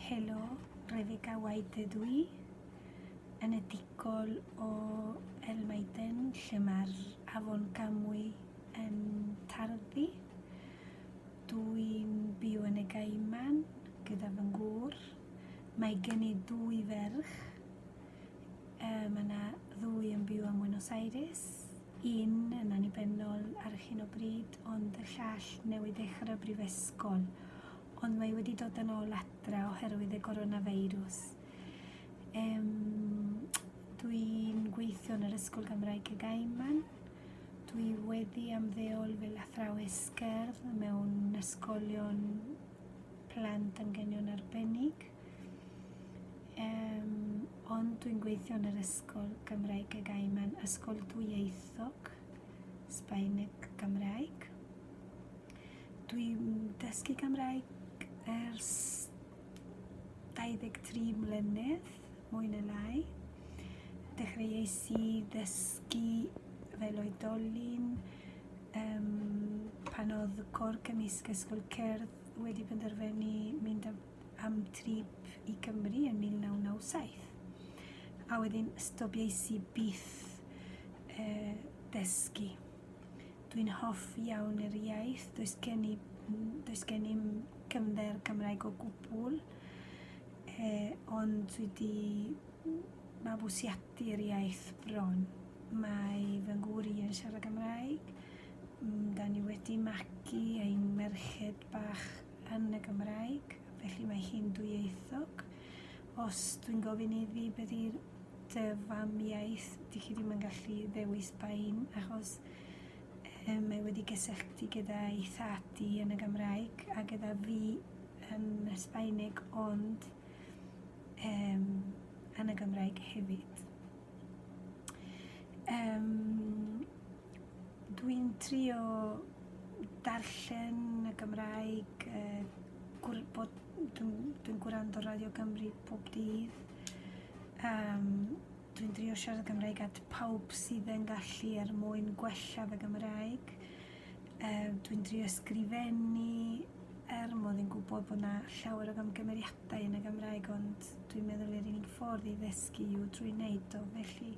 Helo, Rebecca White ydw i, enedigol o El Maiden, lle mae'r afon Camwy yn tarddu. Dw i'n byw yn y Gaiman gyda fy ngŵr. Mae gen i dwy ferch, Mae yna ddwy yn byw ym Mwynos Aires, un yn annibynnol ar hyn o bryd, ond y llall newydd ddechrau brifysgol, ond mae wedi dod yn ôl adra oherwydd y coronafeirws. Um, dwi'n gweithio yn yr Ysgol Gymraeg y Gaiman. Dwi wedi amddeol fel athrawes gerdd mewn ysgolion plant anghenion arbennig. Yym, ond dwi'n gweithio yn yr ysgol Gymraeg y gae mae'n ysgol dwyieithog, Sbaeneg Gymraeg. Dwi'n dysgu Gymraeg ers 23 mlynedd, mwy na lai. Dechreuais i ddysgu fel oedolyn um, pan oedd y cor cymysg ysgol cerdd wedi penderfynu mynd â am drip i Gymru yn 1997 a wedyn stobiais i byth uh, dysgu. Dwi'n hoff iawn yr iaith, does gen i, does gen i'm cyfnder Cymraeg o gwbl, eh, ond dwi wedi mabwysiadu yr iaith bron. Mae fy ngŵr i yn siarad Gymraeg, mm, da ni wedi magu ein merched bach yn y Gymraeg, felly mae hi'n dwyieithog. Os dwi'n gofyn iddi beth yw dy fam iaith, dych chi ddim yn gallu ddewis bain achos um, mae wedi gysylltu gyda'i thad i yn y Gymraeg a gyda fi yn y Sbaeneg ond um, yn y Gymraeg hefyd. Um, Dwi'n trio darllen y Gymraeg, uh, gwr, bod, dwi'n dwi gwrando Radio Gymru pob dydd. Um, dwi'n trio siarad Gymraeg at pawb sydd yn gallu er mwyn gwella fy Gymraeg. Yy, dwi'n drio ysgrifennu er mod i'n gwybod bod 'na llawer o gamgymeriadau yn y Gymraeg ond dwi'n meddwl yr unig ffordd i ddysgu yw drwy wneud o felly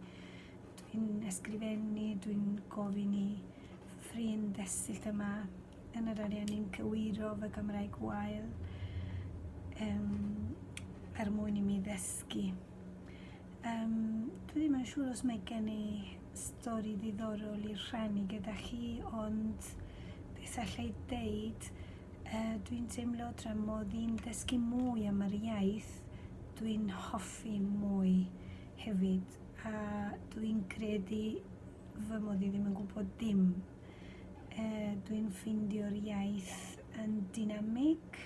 dwi'n ysgrifennu, dwi'n gofyn i fy ffrind ddesill yma yn yr Ariannin gywiro fy Gymraeg wael yym er mwyn i mi ddysgu. Um, dwi ddim yn siŵr os mae gen i stori ddiddorol i'r rhannu gyda chi, ond beth allai ddeud, uh, dwi'n teimlo tra mod i'n dysgu mwy am yr iaith, dwi'n hoffi mwy hefyd, a dwi'n credu fy mod i ddim yn gwybod dim. Uh, dwi'n ffeindio'r iaith yn dynamig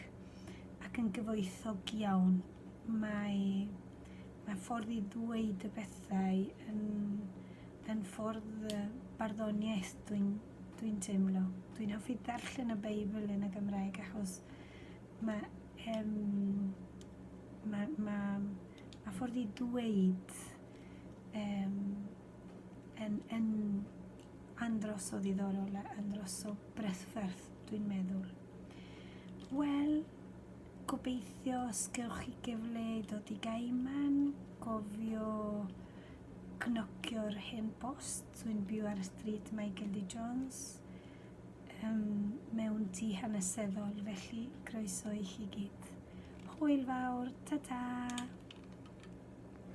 ac yn gyfoethog iawn. Mae, mae ffordd i ddweud y pethau yn, yn ffordd barddoniaeth dwi'n dwi teimlo. Dwi'n hoffi darllen y Beibl yn y Gymraeg achos mae, um, mae, mae, mae ffordd i ddweud um, yn, yn andros o ddiddorol a andros o bresferth dwi'n meddwl. Wel, Gobeithio os gewch chi gyfle i ddod i Gaiman, gofio cnocio'r hen bost. Dwi'n byw ar y stryd Michael D. Jones, um, mewn tu hanesyddol, felly croeso i chi gyd. Hwyl fawr, ta-ta!